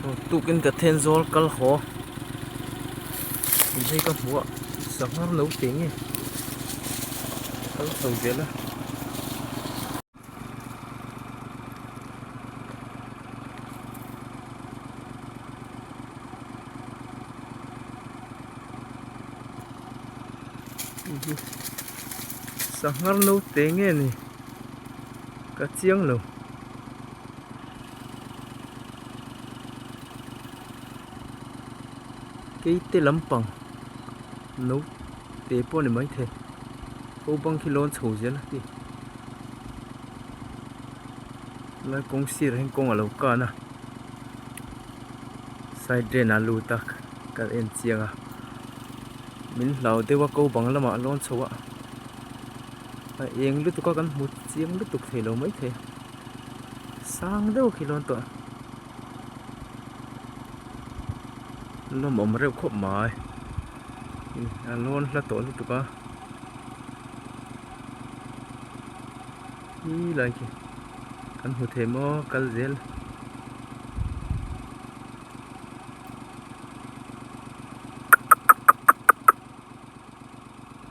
Tuktuk in ka then zawl kal haw in hei ka hmu a sangha naute nge ka la sawi zel a. Sangha naute nge ni ka chiang lo. keite lampang naute pawh a ni maithei ho bang khi lawn chho zel a ni helai kawng sirah hian kawng alo kan a side drain ah a lut a kal en chiang a min hlau deuh a ko bang lamah a lawn chhoh a a eng lutuk a kan hmu chiang lutuk theih lo maithei. sang deuh khi lawn tawh a lawm awm reuh khawp mai a lawn hla tawh lutuk a hlui lai khi kan hmu thei maw kal zel